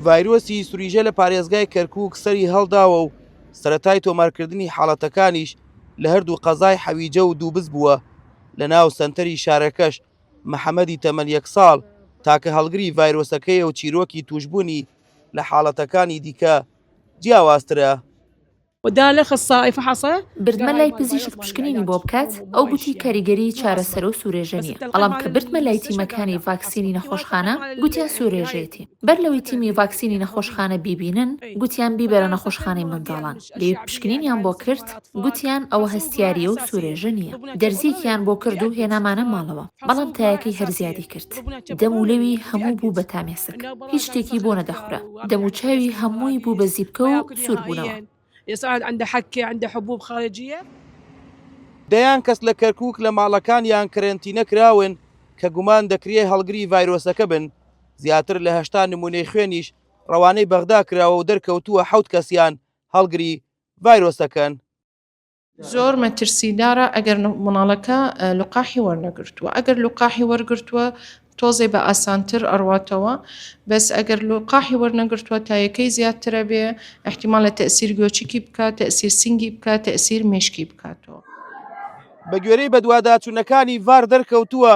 ڤایرۆسی سوریژە لە پارێزگای کەرکووک سەری هەڵداوە و سەرەتای تۆمارکردنی حاڵەتەکانیش لە هەردوو قەزای حەویجە و دووبز بووە، لە ناو سەنتەری شارەکەش محەمەدی تەمەن یەک ساڵ تاکە هەڵگری ڤایرۆسەکەیە و چیرۆکی تووشبوونی لە حاڵەتەکانی دیکە جیاوازترە. ودالخ الصائفە حصە؟ بردمە لای پزیشک پشکنینی بۆ بکات، ئەو گوتی کاریگەری چارەسەرو سورێژە نیە، بەڵام کە بردمە لای تیمەکانی ڤاکسینی نەخۆشخانە گوتیان سورێژێتی، بەر لەوەی تیمی ڤاکسینی نەخۆشخانە بیبینن گوتیان بیبەرە نەخۆشخانەی منداڵان، لێ پشکنینیان بۆ کرد گوتیان ئەوە هەستیاریە و سورێژە نیە، دەرزیەکیان بۆ کرد و هێنامانە ماڵەوە، بەڵام تایەکەی هەر زیادی کرد، دەم و لەوی هەموو بوو بە تامێسک، هیچ شتێکی بۆ نەدەخورا. دەموچاوی هەمووی بوو بە زیپکە و سوور بوونەوە. دەیان کەس لە کەرکووک لە ماڵەکانیان کەرەنتینە کراون کە گومان دەکرێ هەڵگری ڤایرۆسەکە بن، زیاتر لە هەشتا نموونەی خوێنیش ڕەوانەی بەغدا کراوە و دەرکەوتووە حەوت کەسیان هەڵگری ڤایرۆسەکەن. زۆر مەترسیدارە ئەگەر مناڵەکە لقاحی وەرنەگرتووە ئەگەر لقاحی وەرگرتووە تۆزێ بە ئاسانتر ئەڕواتەوە بەس ئەگەر لقاحی وەرنەگرتووە تایەکەی زیاترە بێ احتیمال لە تەسیر گۆچکی بکات تەسیر سنگی بکات تەسیر مشکی بکاتەوە بە گوێرەی بەدواداچوونەکانی ڤار دەرکەوتووە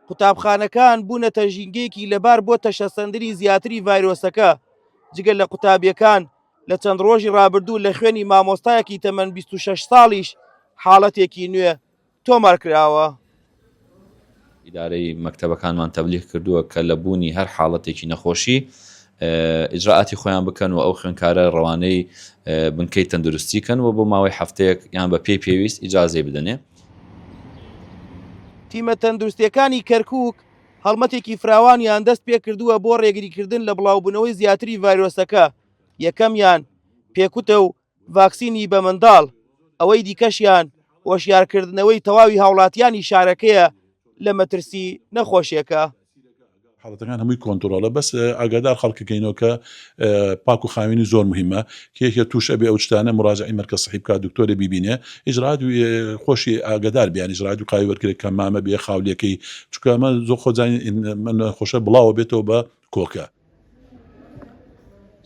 قوتابخانەکان بوونەتە ژینگەیەکی لەبار بۆ تەشەسەندنی زیاتری ڤایرۆسەکە جگە لە قوتابیەکان لە چەند ڕۆژی ڕابردوو لە خوێنی مامۆستایەکی تەمەن 26 ساڵیش حاڵەتێکی نوێ تۆمار کراوە. ئیدارەی مەکتەبەکانمان تەبلیغ کردووە کە لە بوونی هەر حاڵەتێکی نەخۆشی ئیجرائاتی خۆیان بکەن و ئەو خوێندکارە ڕەوانەی بنکەی تەندروستی کەن و بۆ ماوەی هەفتەیەک یان بە پێی پێویست ئیجازەی بدەنێ. تیمە تەندروستییەکانی کەرکووک، هەڵمەتێکی فراوانیان دەست پێکردووە بۆ ڕێگریکردن لە بڵاوبوونەوەی زیاتری ڤایرۆسەکە، یەکەمیان پێکوتە و ڤاکسینی بە منداڵ، ئەوەی دیکەشیان هۆشیارکردنەوەی تەواوی هاوڵاتیانی شارەکەیە لە مەترسی نەخۆشێکە. حاڵەتەکان هەمووی کۆنتڕۆڵە بەس ئاگادار خەڵکەکەینەوە کە پاک و خاوێنی زۆر مهیمە کێ توش ئەبێ ئەوچتانە مراجعەی مەرکەز سەحی بکات دکتۆرێ بیبینێ ئیجرات خۆشی ئاگەدار بێ یانی ئیجرات قاوی وەرگرێ کە مامە بێ خاولیەکەی چونکە ئەمە زۆر خۆزانین خۆشە بڵاوە بێتەوە بە کۆکە.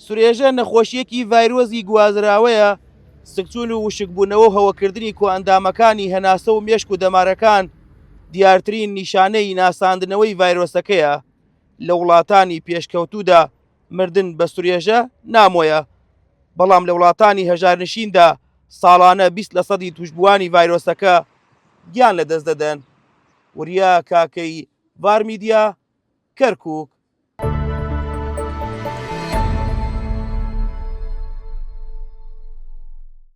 سرێژە نەخۆشییەکی ڤایرۆسی گوازراوەیە، سکچوون و وشکبوونەوە و هەوەکردنی کۆئەندامەکانی هەناسە و مێشک و دەمارەکان دیارترین نیشانەی ناساندنەوەی ڤایرۆسەکەیە لە وڵاتانی پێشکەوتوودا مردن بە سورێژە نامۆیە، بەڵام لە وڵاتانی هەژارنشیندا ساڵانە بیست لە سەدی توشبووانی ڤایرۆسەکە گیان لە دەست دەدەن. وریا کاکەی ڤار میدیا کەرکک.